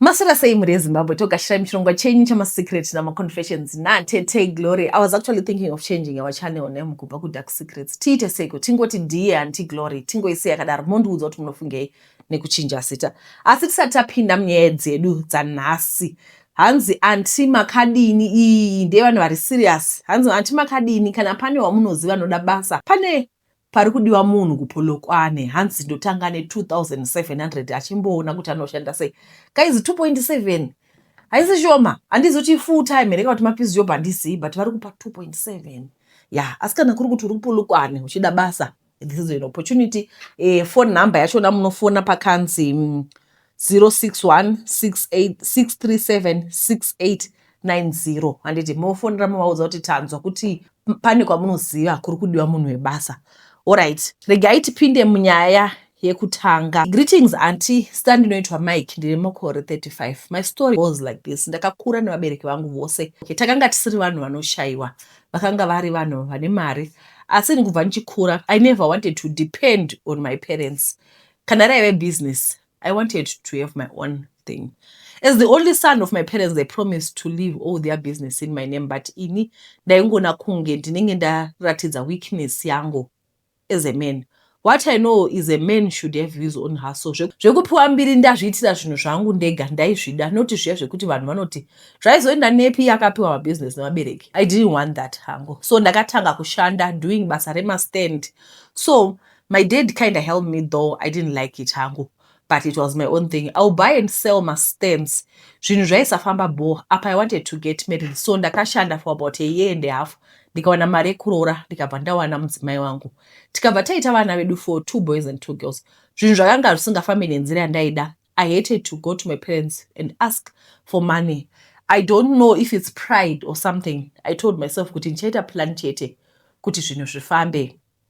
Maswera sei mhuri yeZimbabwe togashira muchirongwa chenyu chamasecret namaconfessions natete Glory. I was actually thinking of changing our channel name kubva kuDark Secrets. Tiite seiko tingoti Dear Auntie Glory tingoisei yakadaro mondiudza kuti munofungei nekuchinja zita. Asi tisati tapinda munyaya dzedu dzanhasi hanzi anti makadini iyi ndeyevanhu vari serious hanzi anti makadini kana pane wamunoziva anoda basa pane Parikudiwa munhu kuPolokwane hanzi ndotanga ne 2700 achimboona kuti anoshanda sei. Guys 2.7 haisi shoma. Handizi kuti full time here kana kuti mapizi job handizivi but vari kupa 2.7. Yeah, asi kana kuri kuti uri kuPolokwane uchida basa this is an opportunity. Eh, phone number yachona munofona pakanzi mm, 061686376890 handiti mofonera movaudza kuti tanzwa kuti pane kwamunoziva kuri kudiwa munhu webasa orit regai tipinde munyaya yekutanga greetings anti star ndinoitwa mike ndine makore 35 my story was like this ndakakura nevabereki vangu vose okay, takanga tisiri vanhu vanoshayiwa vakanga vari vanhu vane mari asi ndikubva ndichikura i never wanted to depend on my parents Kana raive business, I wanted to have my own thing. As the only son of my parents, they promised to leave all their business in my name, but ini ndaingona kunge ndinenge ndaratidza weakness yangu as a man. What I know is a man should have his own hustle. Zvekupiwa mbiri ndazviitira zvinhu zvangu ndega ndaizvida noti zviya zvekuti vanhu vanoti zvaizoenda nepi yakapiwa mabusiness nevabereki. I didn't want that hangu. So ndakatanga kushanda doing basa remastand. So My dad kinda helped me though I didn't like it hangu but it was my own thing. I'll buy and sell mastands. Zvinhu zvaisafamba bho apa I wanted to get married so ndakashanda for about a year and a half ndikawana mari yekuroora ndikabva ndawana mudzimai wangu tikabva taita vana vedu for two boys and two girls. Zvinhu zvakanga zvisingafambi nenzira yandaida. I hated to go to my parents and ask for money. I don't know if it's pride or something. I told myself kuti ndichaita plan chete kuti zvinhu zvifambe.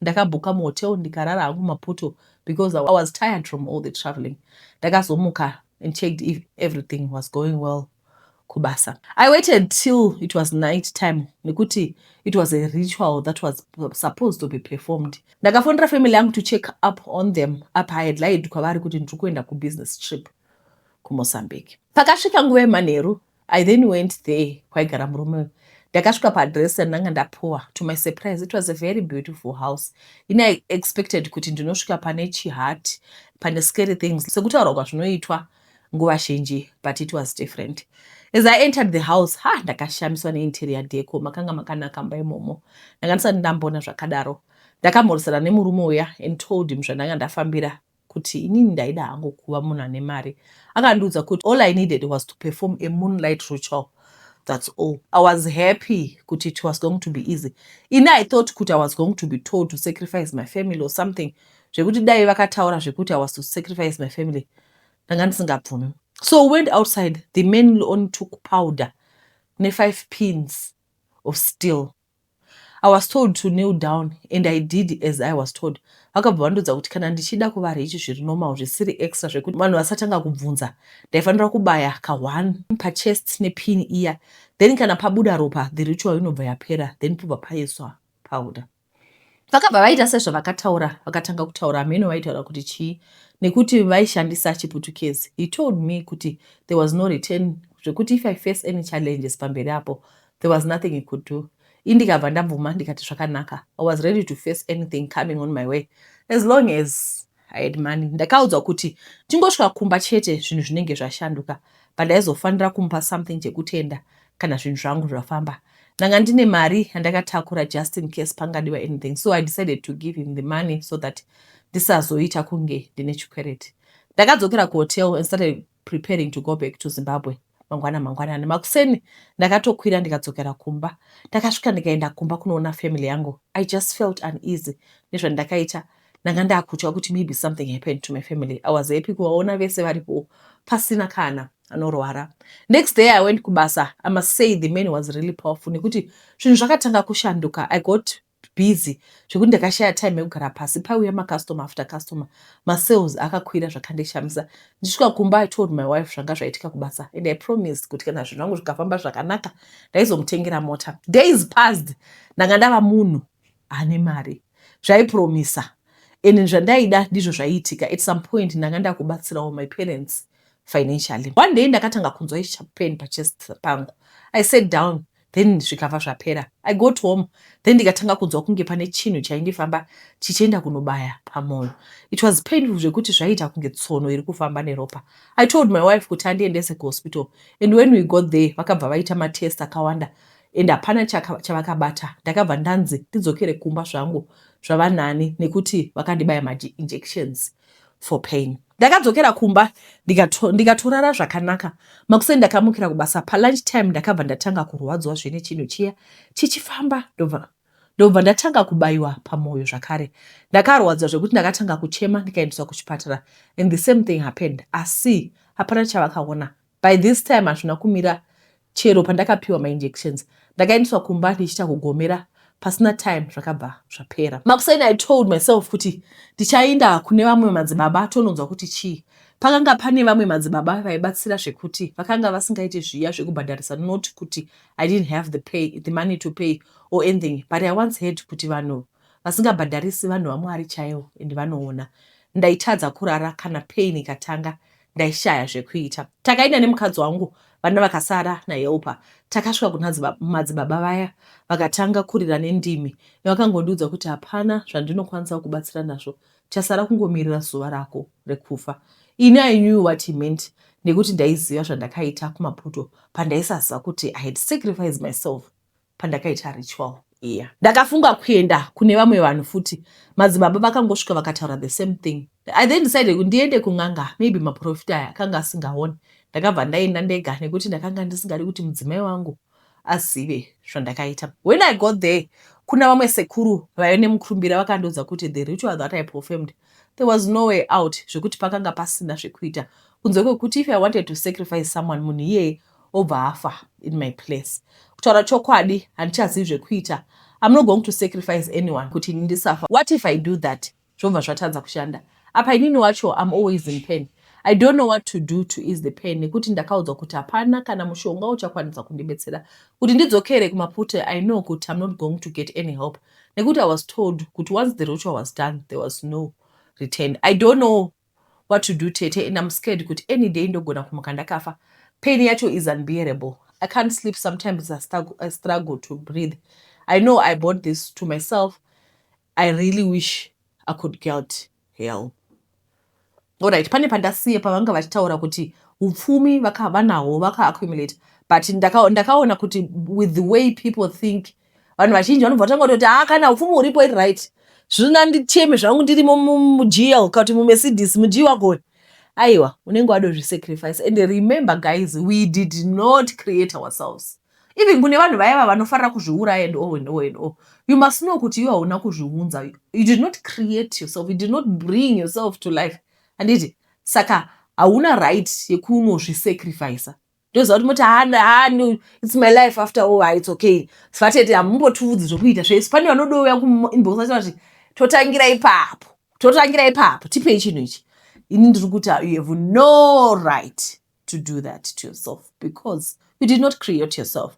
Ndakabhuka muhotel ndikarara hangu mumapoto because I was tired from all the travelling. Ndakazomuka and checked if everything was going well kubasa. I waited till it was night time nekuti it was a ritual that was supposed to be performed. Ndakafonera family yangu to check up on them apa I had lied kwavari kuti ndiri kuenda kubusiness trip kuMozambique. Pakasvika nguva yemanheru I then went there kwaigara murume uyu ndakasvika paadress yandanga ndapuwa to my surprise it was a very beautiful house ini i expected kuti ndinosvika pane chihat pane scary things sekutaurwa kwazvinoitwa nguva zhinji but it was different as i entered the house ha ndakashamiswa neinterior deco makanga makanaka mba imomo ndanga ndisati ndamboona zvakadaro ndakamhoresana nemurume uya and told him zvandanga ndafambira kuti inini ndaida hangu kuva munhu ane mari akandiudza kuti all I needed was to perform a moonlight ritual that's all I was happy kuti it was going to be easy ini I thought kuti I was going to be told to sacrifice my family or something zvekuti dai vakataura zvekuti I was to sacrifice my family ndanga ndisingabvumi so we went outside the man on took powder ne five pins of steel I was told to kneel down and I did as I was told. Vakabva vandiudza kuti kana ndichida kuva rich zviri normal zvisiri extra zvekuti vanhu vasatanga kubvunza ndaifanira kubaya ka one pachest nepin iya then kana pabuda ropa the ritual inobva yapera then pobva paiswa powder. Vakabva vaita sezvavakataura vakatanga kutaura hameno vaitaura kuti chii nekuti vaishandisa chiputukezi. He told me kuti there was no return zvekuti if I face any challenges pamberi apo There was nothing he could do. Ini ndikabva ndabvuma ndikati zvakanaka. I was ready to face anything coming on my way as long as I had money. Ndakaudzwa kuti tingosvika kumba chete zvinhu zvinenge zvashanduka but ndaizofanira kumupa something chekutenda kana zvinhu zvangu zvafamba. Ndanga ndine mari yandakatakura just in case pangadiwa anything so I decided to give him the money so that ndisazoita kunge ndine chikwereti. Ndakadzokera kuhotel and started preparing to go back to Zimbabwe mangwana mangwanani makuseni ndakatokwira ndikadzokera kumba ndakasvika ndikaenda kumba kunoona family yangu i just felt uneasy nezvandakaita ndanga ndakutya kuti maybe something happened to my family i was happy kuvaona vese varipo pasina kana anorwara next day i went kubasa i must say the man was really powerful nekuti zvinhu zvakatanga kushanduka i got busy zvekuti ndakashaya time yekugara pasi paiuya macustomer after customer masales akakwira zvakandishamisa ndisvika kumba i told my wife zvanga zvaitika kubasa and i promised kuti kana zvinhu zvangu zvikafamba zvakanaka ndaizomutengera mota days passed ndanga ndava munhu ane mari zvaipromisa and zvandaida ndizvo zvaiitika at some point ndanga ndakubatsirawo my parents financially one day ndakatanga kunzwa ichapeni pachest pangu i sat down then zvikava zvapera i got home then ndikatanga kunzwa kunge pane chinhu chaindifamba chichienda kunobaya pamoyo it was painful zvekuti zvaiita kunge tsono iri kufamba neropa i told my wife kuti andiendese kuhospital and when we got there vakabva vaita matest akawanda and hapana chavakabata ndakabva ndanzi ndidzokere kumba zvangu zvavanani nekuti vakandibaya mainjections for pain ndakadzokera kumba ndikatorara zvakanaka makuseni ndakamukira kubasa palunch time ndakabva ndatanga kurwadziwa zvine chinhu chiya chichifamba ndobva ndobva ndatanga kubayiwa pamwoyo zvakare ndakarwadziwa zvekuti ndakatanga kuchema ndikaendeswa kuchipatara and the same thing happened asi hapana chavakaona By this time hazvina kumira chero pandakapiwa ma injections ndakaendeswa kumba ndichiita kugomera pasina time zvakabva zvapera. Makuseni I told myself kuti ndichainda kune vamwe madzibaba tononzwa kuti chii. Pakanga pane vamwe madzibaba vaibatsira zvekuti vakanga vasingaite zviya zvekubhadharisa not kuti I didn't have the pay, the money to pay or anything but I once heard kuti vanhu vasingabhadharisi vanhu vaMwari chaivo and vanoona. Ndaitadza kurara kana pain ikatanga ndaishaya zvekuita takaenda nemukadzi wangu vana vakasara nahelpa takasvika kuna madzibaba vaya vakatanga kurira nendimi vakangondiudza kuti hapana zvandinokwanisa kubatsira nazvo chasara kungomirira zuva rako rekufa ini i knew what he meant nekuti ndaiziva zvandakaita kumaputo pandaisaziva kuti i had sacrificed myself pandakaita ritual iya. Ndakafunga kuenda kune vamwe vanhu futi. Madzibaba vakangosvika vakataura the same thing. I then decided kuti ndiende kun'anga maybe maprofita aya akanga asingaone. Ndakabva ndaenda ndega nekuti ndakanga ndisingadi kuti mudzimai wangu azive zvandakaita. When I got there kuna vamwe sekuru vaive nemukurumbira vakandiudza kuti the ritual that I performed there was no way out zvekuti pakanga pasina zvekuita kunze kwekuti if I wanted to sacrifice someone munhu iyeye obva afa in my place kutaura chokwadi handichazivi zvekuita I'm not going to sacrifice anyone kuti ini ndisafa what if I do that zvobva zvatadza kushanda apa inini wacho I'm always in pain I don't know what to do to ease the pain nekuti ndakaudzwa kuti hapana kana mushonga uchakwanisa kundibetsera kuti ndidzokere kumapute I know kuti I'm not going to get any help nekuti I was told kuti once the ritual was done there was no return I don't know what to do tete and I'm scared kuti any day ndogona kumuka ndakafa pain yacho is unbearable I can't sleep sometimes I struggle, I struggle to breathe I know I bought this to myself I really wish I could get help Alright, pane pandasiye pavanga vachitaura kuti upfumi vanahwo vaka accumulate but ndakaona kuti with the way people think vanhu vazhinji vanobva vatanga kutoti haa ah, kana upfumi huripo iri right zvina ndicheme zvangu ndirimo mujl kati mumercedes mujii wagoni aiwa unenge wadozvisacrifice and remember guys we did not create ourselves even kune vanhu vaya va vanofarira kuzviuraya and all and all and all you must know kuti iwe hauna kuzviunza you did not create yourself you did not bring yourself to life handiti saka hauna right yekunozvisacrifica ndoziva kuti moti hana hanu its my life after all ha its okay sivatete hamumbotiudzi zvokuita zvese pane vanodouya kuinbox vachita kuti totangira ipapo totangira ipapo tipei chinhu ichi ini ndiri kuti you have no right to do that to yourself because you did not create yourself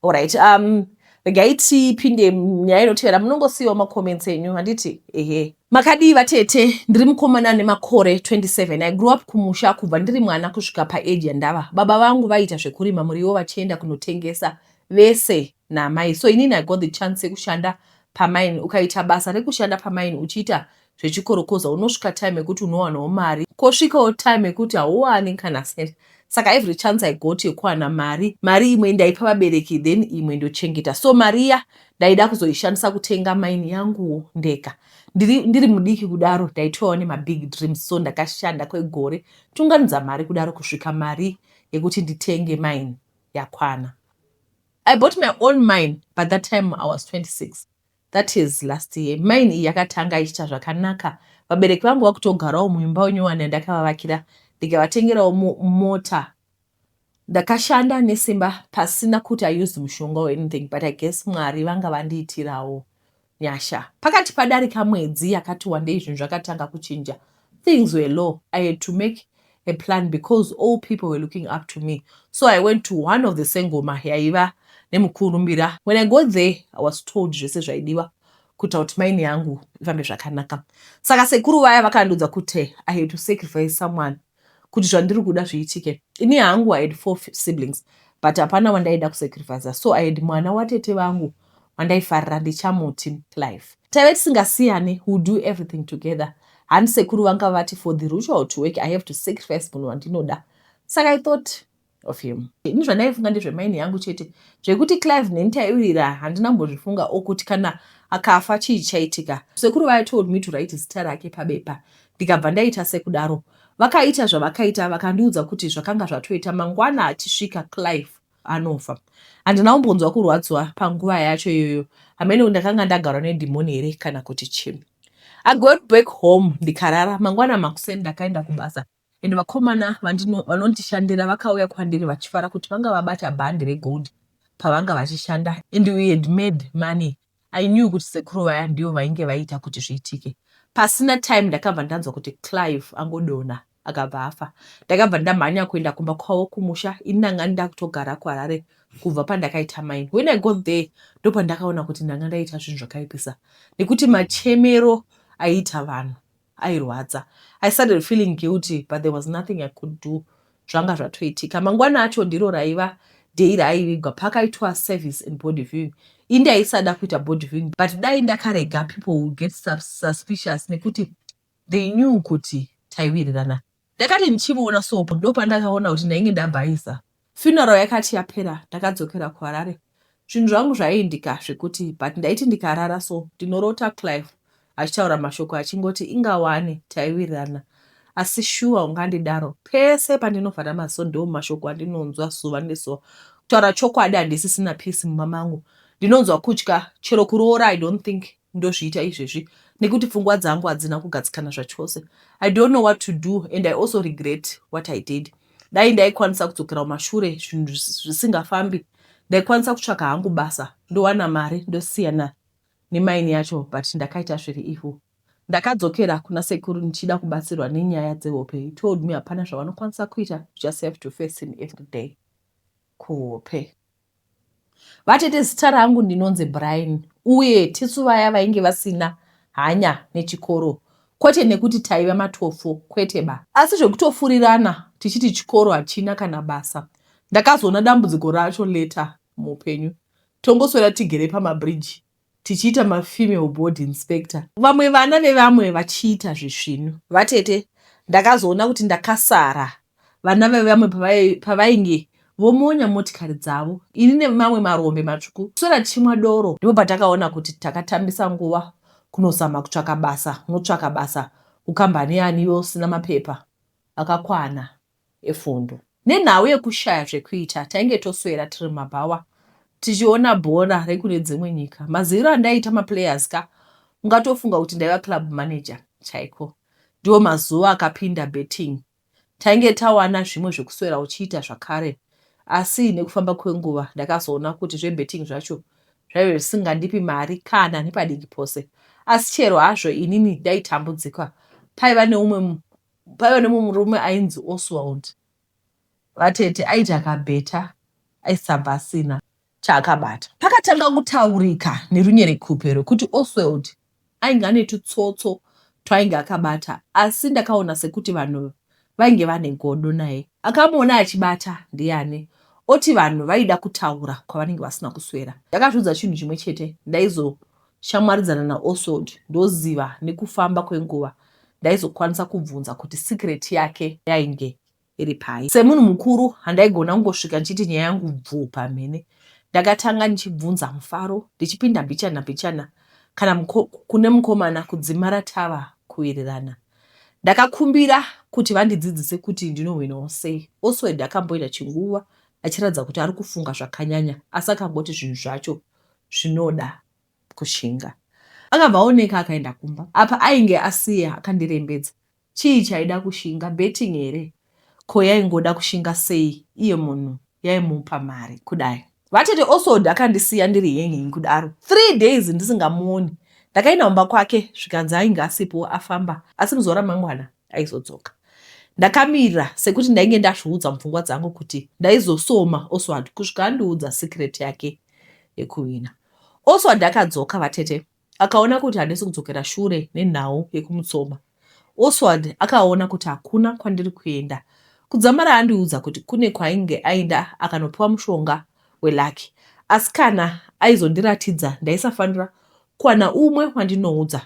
Alright, um, regai tipinde nyaya inotevera munongosiyiwa macomments enyu handiti ehe makadii vatete ndiri mukomana ane makore 27 i grew up kumusha kubva ndiri mwana kusvika paage yandava baba vangu vaiita zvekurima muriwo vachienda kunotengesa vese naamai so inini i got the chance yekushanda pamine ukaita basa rekushanda pamine uchiita zvechikorokoza unosvika time yekuti unowanawo mari kosvikawo time yekuti hauwani kana cent saka every chance i got yekuwana mari mari imwe ndaipa vabereki then imwe ndochengeta so mari iya ndaida kuzoishandisa kutenga maini yanguwo ndega ndiri, ndiri mudiki kudaro ndaitoyawo nemabig dreams so ndakashanda kwegore tunganidza mari kudaro kusvika mari yekuti nditenge maini yakwana i bought my own mine by that time i was 26 That is last year. Mine iyi yakatanga ichiita zvakanaka. Vabereki vangu vakutogarawo muimba unyowani yandakavavakira ndikavatengerawo mota. Ndakashanda nesimba pasina kuti I used mushonga or anything but I guess Mwari vanga vandiitirawo nyasha. Pakati padarika mwedzi yakati wandei zvinhu zvakatanga kuchinja. Things were low. I had to make a plan because all people were looking up to me so i went to one of the sengoma yaiva nemukurumbira when i got there i was told zvese zvaidiwa kuita kuti maini yangu ifambe zvakanaka saka sekuru vaya vakandiudza kuti i had to sacrifice someone kuti zvandiri kuda zviitike ini hangu i had four siblings but hapana wandaida kusacrifica so i had mwana watete vangu wandaifarira ndichamuti Clive. Taive tisingasiyane, we will do everything together. Hanzi sekuru vanga vati for the ritual to work I have to sacrifice munhu wandinoda. Saka I thought of him. Ini zvandaifunga ndezvemaini yangu chete. Zvekuti Clive neni taiwirira handina kumbozvifunga or kuti kana akafa chii chaitika. Sekuru vaya told me to write zita rake pabepa ndikabva ndaita sekudaro. Vakaita zvavakaita vakandiudza kuti zvakanga zvatoita mangwana achisvika Clive anofa handina kumbonzwa kurwadziwa panguva yacho iyoyo hameno ndakanga ndagarwa nedhimoni here kana kuti chii i got back home ndikarara mangwana makuseni ndakaenda kubasa and vakomana vanondishandira vakauya kwandiri vachifara kuti vanga vabata bhandi regold pavanga vachishanda and we had made money I knew kuti sekuru vaya ndivo vainge vaiita kuti zviitike. Pasina time ndakabva ndanzwa kuti Clive angodona akabva afa. Ndakabva ndamhanya kuenda kumba kwavo kumusha ini ndanga ndakutogara kuHarare kubva pandakaita mine. When I got there ndopandakaona kuti ndanga ndaita zvinhu zvakaipisa nekuti machemero aiita vanhu. Airwadza. I started feeling guilty but there was nothing I could do zvanga zvatoitika. Mangwana acho ndiro raiva day raaivigwa pakaitwa service and body viewing. Ini ndaisada kuita body viewing but dai ndakarega people would get suspicious nekuti they knew kuti taiwirirana. Ndakati ndichimuona sopo ndopandakaona kuti ndainge ndabhaisa. Funeral yakati yapera ndakadzokera kuHarare. Zvinhu zvangu zvaiindika zvekuti but ndaiti ndikarara so ndinorota Clive achitaura mashoko achingoti inga wani taiwirirana asi shuwa ungandidaro pese pandinovhara maziso ndiwo mashoko andinonzwa zuva nezuva kutaura chokwadi handisisina peace mumba mangu ndinonzwa kutya chero kuroora i don't think ndozviita izvezvi nekuti pfungwa dzangu hadzina kugadzikana zvachose i don't know what to do and i also regret what i did dai ndaikwanisa kudzokera kumashure zvinhu zvisingafambi ndaikwanisa kutsvaka hangu basa ndowana mari ndosiyana nemaini yacho but ndakaita zviri ivo ndakadzokera kuna sekuru ndichida kubatsirwa nenyaya dzehope he told me hapana zvavanokwanisa kuita just have to face him every day kuhope Vatete zita rangu ndinonzi Brian uye tisu vaya vainge vasina hanya nechikoro kwete nekuti taiva matofo kwete ba asi zvekutofurirana tichiti chikoro hachina kana basa ndakazoona dambudziko racho later muupenyu tongoswera tigere pamabridge tichiita ma female board inspector vamwe vana vevamwe vachiita zvisvinu. Vatete ndakazoona kuti ndakasara vana vevamwe pavainge vomonya motikari dzavo ini nemamwe marombe matsvuku kuswera tichimwa doro ndipo patakaona kuti takatambisa nguva kunozama kutsvaka basa unotsvaka basa kukambani yani iwe usina mapepa akakwana efundo. Nenhau yekushaya zvekuita, tainge toswera tiri mumabhawa tichiona bhora rekune dzimwe nyika. Maziviro andaiita maplayers ka, ungatofunga kuti ndaiva club manager chaiko. Ndiwo mazuva akapinda betting. Tainge tawana zvimwe zvekuswera uchiita zvakare asi nekufamba kwenguva ndakazoona kuti zvebetting zvacho zvaive zvisingandipi mari kana nepadiki pose. Asi chero hazvo inini ndaitambudzika, paiva neumwe Paiva nemumwe murume ainzi Oswald vatete aiti akabheta aisabva asina chaakabata. Pakatanga kutaurika nerunyerekupe rwekuti Oswald ainge ane tutsotso twainge akabata asi ndakaona sekuti vanhu vainge vane godo naye. Akamuona achibata ndiani oti vanhu vaida kutaura kwavanenge vasina kuswera. Ndakazviudza chinhu chimwe chete ndaizo tichamwaridzana naOswald ndoziva nekufamba kwenguva ndaizokwanisa kubvunza kuti secret yake yainge iri pai. Semunhu mukuru handaigona kungosvika ndichiti nyaya yangu bvuu pamhene. Ndakatanga ndichibvunza mufaro ndichipinda mbichana mbichana kana mko, kune mukomana kudzimara tava kuwirirana. Ndakakumbira kuti vandidzidzise kuti ndinohwinawo sei. Oswald akamboita chinguva achiratidza kuti ari kufunga zvakanyanya asi akangoti zvinhu zvacho zvinoda kushinga. Akabva aoneka akaenda kumba. Apa ainge asiya akandirembedza. Chii chaida kushinga? Betting here? Ko yaingoda kushinga sei iye munhu yaimupa mari kudai? Vatete Oswald akandisiya ndiri hanging kudaro three days ndisingamuoni. Ndakaenda kumba kwake zvikanzi ainge asipo afamba asi muzuva ramangwana aizodzoka. Ndakamira sekuti ndainge ndazviudza mupfungwa dzangu kuti ndaizosoma Oswald kusvika andiudza secret yake yekuhwina. Oswald akadzoka vatete akaona kuti handisi kudzokera shure nenhau yekumutsoma. Oswald akaona kuti hakuna kwandiri kuenda. Kudzamara andiudza kuti kune kwainge aenda akanopiwa mushonga welaki. Asi kana aizondiratidza ndaisafanira kuwana umwe wandinoudza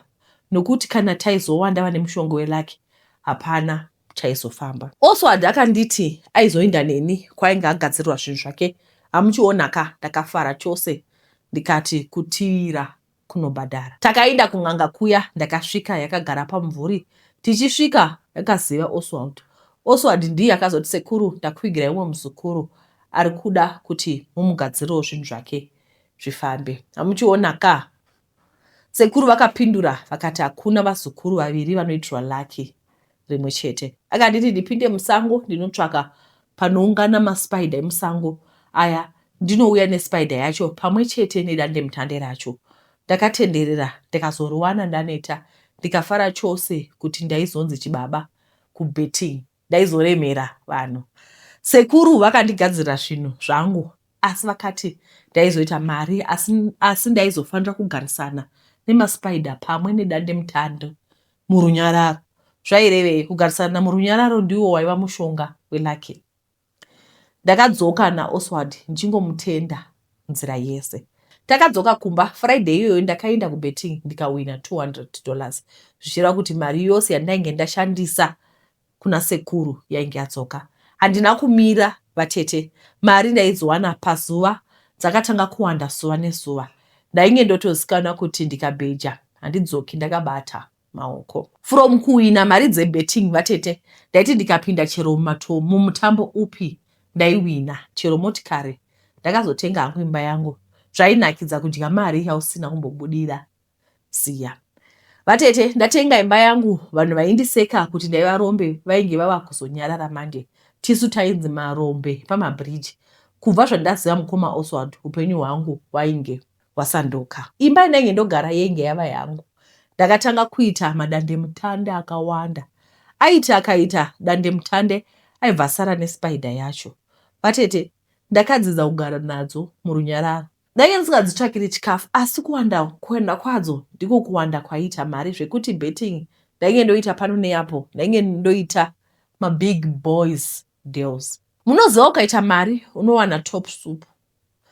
nokuti kana taizowanda vane mushonga welucky hapana chaizofamba. Oswald akanditi aizoinda neni kwainge agadzirirwa zvinhu zvake amuchiona ka ndakafara chose ndikati kutiira kunobhadhara. Takainda kun'anga kuya ndakasvika yakagara pamumvuri tichisvika yakaziva Oswald. Oswald ndiye akazoti sekuru ndakuvigirai umwe muzukuru ari kuda kuti mumugadzirirewo zvinhu zvake zvifambe amuchiona ka Sekuru vakapindura vakati hakuna vazukuru vaviri vanoitirwa lucky rimwe chete. Akanditi ndipinde musango ndinotsvaka panoungana maspider emusango aya ndinouya nespider yacho pamwe chete nedandemutande racho. Ndakatenderera ndikazoriwana ndaneta ndikafara chose kuti ndaizonzi chibaba kubetting. Ndaizoremera vanhu. Sekuru vakandigadzirira zvinhu zvangu asi vakati ndaizoita mari asi, asi ndaizofanira kugarisana nemaspider pamwe nedandemutande murunyararo. Zvairevei? Kugarisana murunyararo ndiwo waiva mushonga welucky. Ndakadzoka naOswald ndichingomutenda nzira yese. Takadzoka kumba Friday iyoyo ndakaenda kubetting ndikawina 200 dollars zvichireva kuti mari yose yandainge ndashandisa kuna sekuru yainge yadzoka. Handina kumira vatete, mari ndaidziwana pazuva dzakatanga kuwanda zuva nezuva. Ndainge ndotozikanwa kuti ndikabheja handidzoki ndakabata. maoko. From kuwina mari dzebetting vatete ndaiti ndikapinda chero mumatom mumutambo upi ndaiwina chero motikari ndakazotenga hangu imba yangu zvainakidza kudya mari yausina kumbobudira ziya vatete ndatenga imba yangu vanhu vaindiseka kuti ndaivarombe vainge vava kuzonyarara manje tisu tainzi marombe pamabridge kubva zvandaziva mukoma oswald upenyu hwangu wainge wasanduka. Imba yandainge ndogara yainge yava yangu. Ndakatanga kuita madandemutande akawanda. Aiti akaita dandemutande aibva asara nespider yacho. Vatete ndakadzidza kugara nadzo murunyararo. Ndainge ndisingadzitsvakiri chikafu asi kuwanda kuenda kwadzo ndiko kuwanda kwaiita mari zvekuti betting ndainge ndoita pano neapo. Ndainge ndoita mabig boys deals. Munoziva ukaita mari unowana top soup.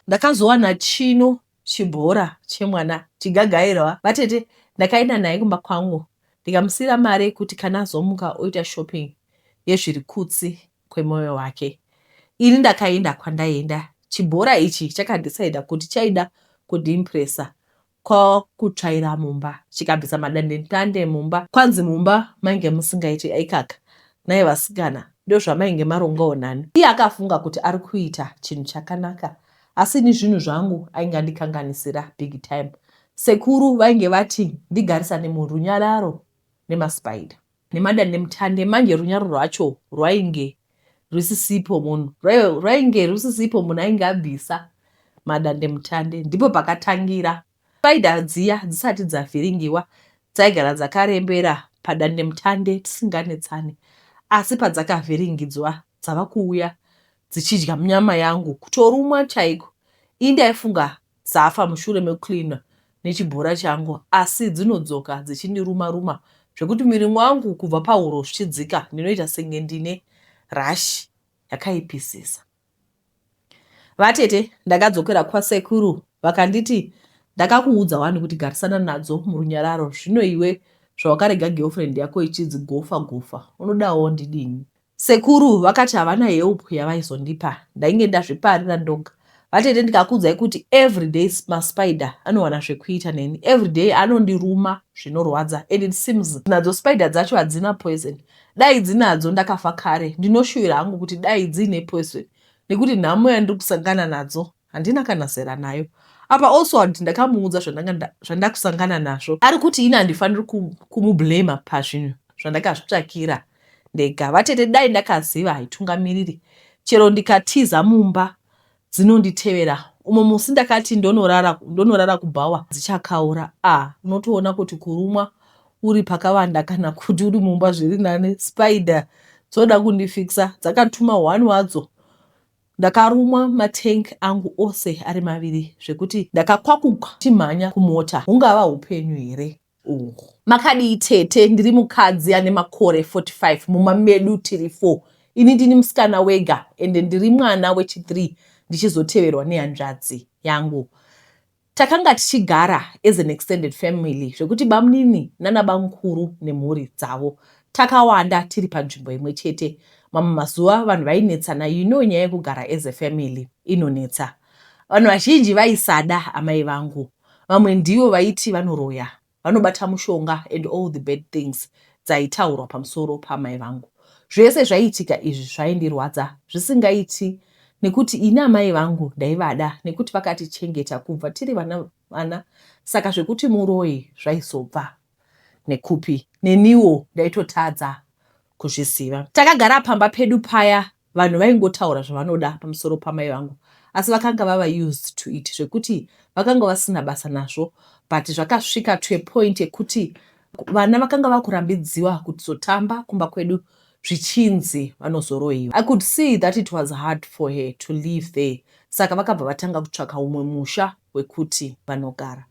Ndakazowana chino chibhora chemwana chigagairwa vatete ndakaenda naye kumba kwangu ndikamusiyira mari yekuti kana azomuka oita shopping yezviri kutsi kwemoyo wake. Ini ndakaenda kwandaenda. Chibhora ichi chakadecida kuti chaida kundiimpressa Ko kutsvaira mumba chikabvisa madandemutande mumba kwanzi mumba mainge musingaite ikaka nhai vasikana ndozvamainge marongawo nani iye akafunga kuti ari kuita chinhu chakanaka asi ini zvinhu zvangu ainge andikanganisira big time sekuru vainge vati ndigarisane murunyararo nemaspider nemadandemutande manje runyararo rwacho rwainge rwisisipo munhu rwainge rwisisipo munhu ainge abvisa madandemutande ndipo pakatangira spider dziya dzisati dzavhiringiwa dzaigara dzakarembera padandemutande tisinganetsane asi padzakavhiringidzwa dzava kuuya dzichidya munyama yangu kutorumwa chaiko ii ndaifunga dzafa mushure mekucleaner nechibhora changu asi dzinodzoka dzichindiruma ruma zvekuti muviri wangu kubva pahuro zvichidzika ndinoita senge ndine rush yakaipisisa. Vatete ndakadzokera kwasekuru vakanditi ndakakuudza wani kuti garisana nadzo murunyararo zvino iwe zvawakarega girlfriend yako ichidzigofa gofa unodawo ndidini Sekuru vakati havana help yavaizondipa ndainge ndazviparira ndoga. Vatete ndikakuudzai kuti everyday maspider anowana zvekuita neni everyday anondiruma zvinorwadza and it seems nadzo spider dzacho hadzina poison dai dzinadzo ndakafa kare ndinoshuvira hangu kuti dai dziine poison nekuti nhamo yandiri kusangana nadzo Handina kana zera nayo apa also handiti ndakamuudza zvandakusangana nazvo ari kuti ini handifaniri kumublema pazvinhu zvandakazvitsvakira ndega vatete dai ndakaziva haitungamiriri chero ndikatiza mumba dzinonditevera umwe musi ndakati ndonorara ndonorara kubhawa dzichakaura a ah, unotoona kuti kurumwa uri pakavanda kana kuti uri mumba zviri nani spider dzoda kundifikisa dzakatuma one wadzo Ndakarumwa matank angu ose ari maviri zvekuti ndakakwakuka ndichimhanya kumota hungava hupenyu here uhu. Makadii tete ndiri mukadzi ane makore 45 mumba medu tiri four ini ndini musikana wega ende ndiri mwana wechi three ndichizoteverwa nehanzvadzi yangu Takanga tichigara as an extended family zvekuti bamnini nanabamkuru nemhuri dzavo takawanda tiri panzvimbo imwe chete. Mamwe mazuva vanhu vainetsana you know nyaya yekugara as a family inonetsa. Vanhu vazhinji vaisada amai vangu. Vamwe ndivo vaiti vanoroya vanobata mushonga and all the bad things dzaitaurwa pamusoro paamai vangu. Zvese zvaiitika izvi zvaindirwadza zvisingaiti nekuti ini amai vangu ndaivada nekuti vakatichengeta kubva tiri vana vana saka zvekuti muroyi zvaizobva nekupi neniwo ndaitotadza kuzviziva. Takagara pamba pedu paya vanhu vaingotaura zvavanoda pamusoro pamai vangu asi vakanga vava used to it zvekuti vakanga vasina basa nazvo but zvakasvika to a point ekuti vana vakanga vakurambidziwa kuzotamba kumba kwedu zvichinzi vanozoroiwa. I could see that it was hard for her to live there saka vakabva vatanga kutsvaka umwe musha wekuti vanogara.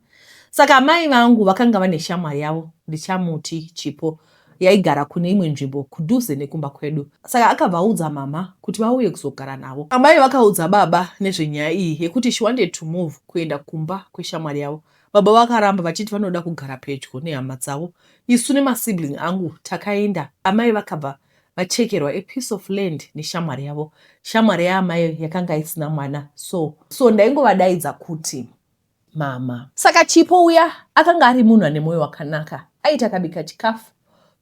Saka amai vangu vakanga vane shamwari yavo ndichamuti Chipo yaigara kune imwe nzvimbo kudhuze nekumba kwedu saka akabva audza mhamha kuti vauye kuzogara navo. Amai vakaudza baba nezvenyaya iyi yekuti she wanted to move kuenda kumba kweshamwari yavo. Baba vakaramba vachiti vanoda kugara pedyo nehama dzavo. Isu nemasibling angu takaenda. Amai vakabva vachekerwa a piece of land neshamwari yavo. Shamwari yaamai yakanga isina mwana so so ndaingovadaidza kuti mama. Saka Chipo uya akanga ari munhu ane mwoyo wakanaka, aiti akabika chikafu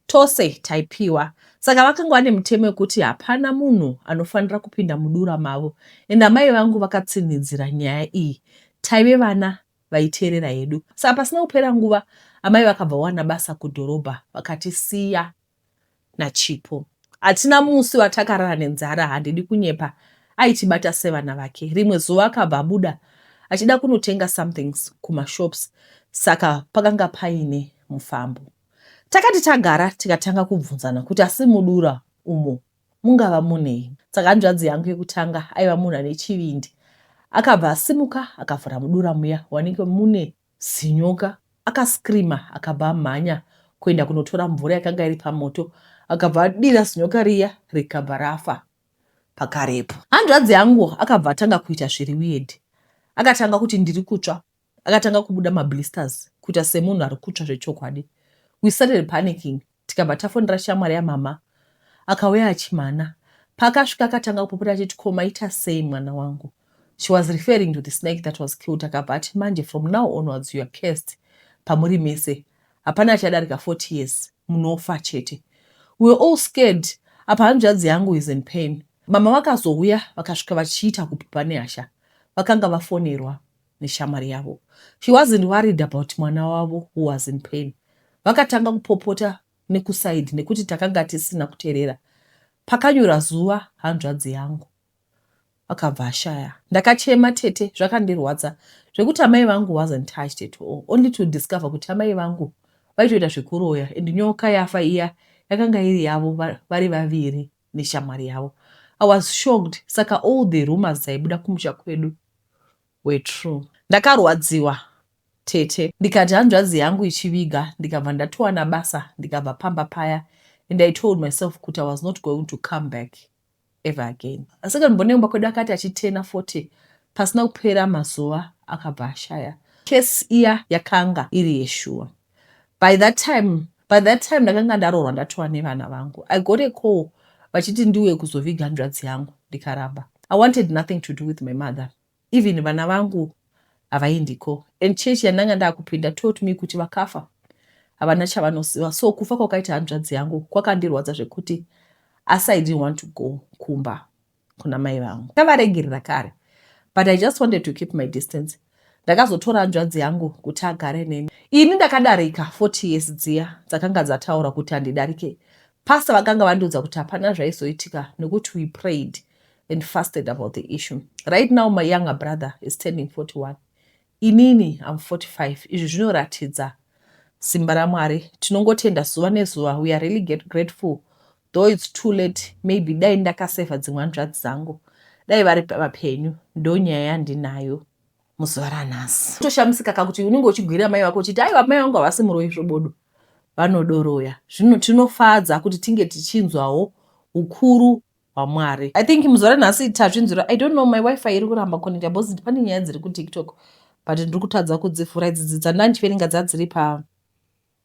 tose taipiwa. Saka vakanga vane mutemo wekuti hapana munhu anofanira kupinda mudura mavo and amai vangu vakatsinhidzira nyaya iyi. Taive vana vaiteerera hedu. Saka pasina kupera nguva amai vakabva vawana basa kudhorobha vakatisiya. naChipo. Hatina musi watakarara nenzara handidi kunyepa aitibata sevana vake. Rimwe zuva akabva abuda achida kunotenga somethings kumashops saka pakanga paine mufambo. Takati tagara tikatanga kubvunzana kuti asi mudura umo mungava munei. Saka hanzvadzi yangu yekutanga aiva munhu ane chivindi akabva asimuka akavhura mudura muya wanenge mune zinyoka aka screamer akabva amhanya kuenda kunotora mvura yakanga iri pamoto akabva adira zinyoka riya rikabva rafa pakarepo. Hanzvadzi yangu akabva atanga kuita zviri weird akatanga kuti ndiri kutsva akatanga kubuda ma blisters kuita semunhu ari kutsva zvechokwadi we started panicking Tikabva tafonera shamwari yamhamha akauya achimhana. Paakasvika akatanga kupopota achiti ko maita sei mwana wangu. She was referring to the snake that was killed akabva ati manje from now onwards you are cursed pamuri mese. Hapana achadarika 40 years munofa chete. We were all scared apa hanzvadzi yangu is in pain. Mama vakazouya vakasvika vachiita kupupa nehasha. Vakanga vafonerwa. neshamwari yavo. She wasn't worried about mwana wavo who was in pain. Vakatanga kupopota nekuside nekuti takanga tisina kuterera. Pakanyura zuva hanzvadzi yangu akabva ashaya. Ndakachema tete zvakandirwadza zvekuti amai vangu wasn't touched at all only to discover kuti amai vangu vaitoita zvekuroya and nyoka yafa iya yakanga iri yavo vari vaviri. neshamwari yavo. I was shocked saka all the rumours dzaibuda kumusha kwedu were true. Ndakarwadziwa tete ndikati hanzvadzi yangu ichiviga ndikabva ndatowana basa ndikabva pamba paya and I told myself kuti I was not going to come back ever again. Second born yemumba kwedu akati achitena 40 pasina kupera mazuva akabva ashaya. Case iya yakanga iri yeshuwa. by that time by that time ndakanga ndaroorwa ndatova nevana vangu i got a call vachiti ndiuye kuzoviga hanzvadzi yangu ndikaramba i wanted nothing to do with my mother even vana vangu havaindiko and church yandanga ndakupinda taught me kuti vakafa havana chavanoziva so kufa kwakaita hanzvadzi yangu kwakandirwadza zvekuti asi i didn't want to go kumba kuna mai vangu ndavaregerera kare but i just wanted to keep my distance ndakazotora hanzvadzi yangu kuti agare neni ini ndakadarika 40 years dziya dzakanga dzataura kuti handidarike pasta vakanga vandiudza kuti hapana zvaizoitika nekuti we prayed and fasted about the issue right now my younger brother is turning 41 inini im 45 izvi zvinoratidza simba ramwari tinongotenda zuva nezuva we are really get grateful Though it's too late maybe dai ndakasaver dzimwe hanzvadzi dzangu dai vari vapenyu ndonyaya yandinayo muzuva ranhasi. Toshamisika ka kuti unenge uchigwirira mai vako uchiti aiwa mai vangu havasi muroyi svobodo vanodoroya. Zvino tinofadza kuti tinge tichinzwawo ukuru hwaMwari. I think muzuva ranhasi tazvinzwira. I don't know my wifi iri kuramba connecta because pane nyaya dziri kuTiktok but ndiri kutadza kudzivhura idzi dzandandiverenga dzadziri pa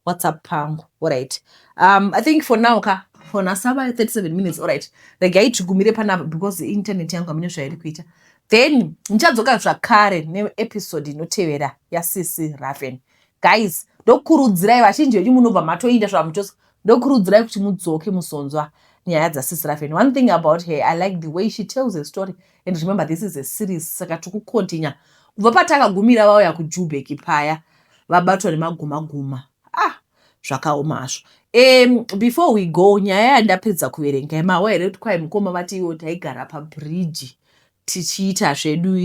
whatsapp pangu orit um, i think for now ka for nasava 37 minutes orit regai tigumire panapa because internet yangu amine zvairi kuita then ndichadzoka zvakare neepisode inotevera yacc raven guys ndokurudzirai vachinji venyu munobva matoinda zvavamuchos ndokurudzirai kuti mudzoke musonzwa nyaya dzasisirafen one thing about her i like the way she tells a story and remember this is a series saka tiri kucontinue kubva patakagumira vauya kujubek paya vabatwa nemagumaguma ah zvakaoma hazvo um before we go nyaya yandapedza kuverenga yemawa here kuti kwai mukoma vati iwo taigara pabridge tichiita zvedu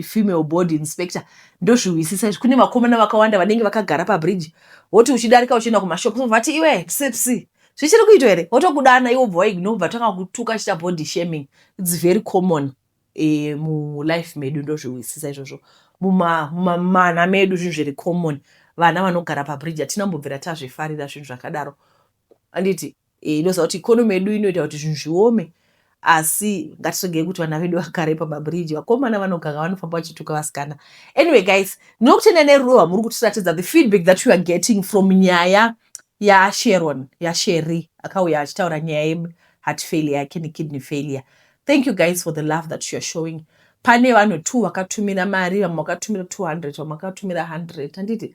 female body inspector ndozvihwisisa izvi kune vakomana vakawanda vanenge vakagara pabridge woti uchidarika uchienda kumashop vati iwe psipsi zvichiri kuitwa here wotokudana iwo bva waignore bva tanga kutuka chita body shaming its very common e, mulife medu ndozvihwisisa izvozvo mumamana medu zvinhu zviri common vana vanogara pabridge hatina mbobvira tazvifarira zvinhu zvakadaro anditi eh, inoziva kuti ikonomi yedu inoita kuti zvinhu zviome asi ngatisvigei kuti vana vedu vakare pamabridge vakomana vanoganga vanofamba vachituka vasikana anyway guys ndinokutendai nerudo rwamuri kutiratidza the feedback that you are getting from nyaya yasheron yasheri akauya achitaura nyaya yeheart failure yake nekidney failure thank you guys for the love that you are showing pane vanhu two vakatumira mari vamwe vakatumira 200 vamwe vakatumira 100 handiti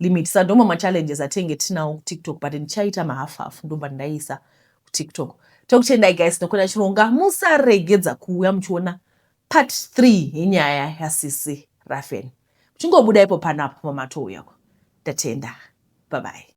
limit sa ndoma ma challenges atenge tinawo ku tiktok but ndichaita ma half half ndobva ndaisa ku tiktok tokutendai guys nokona chironga musaregedza kuuya muchiona part 3 yenyaya yasisi rafen muchingobuda ipo panapo pamatouya ko ndatenda babai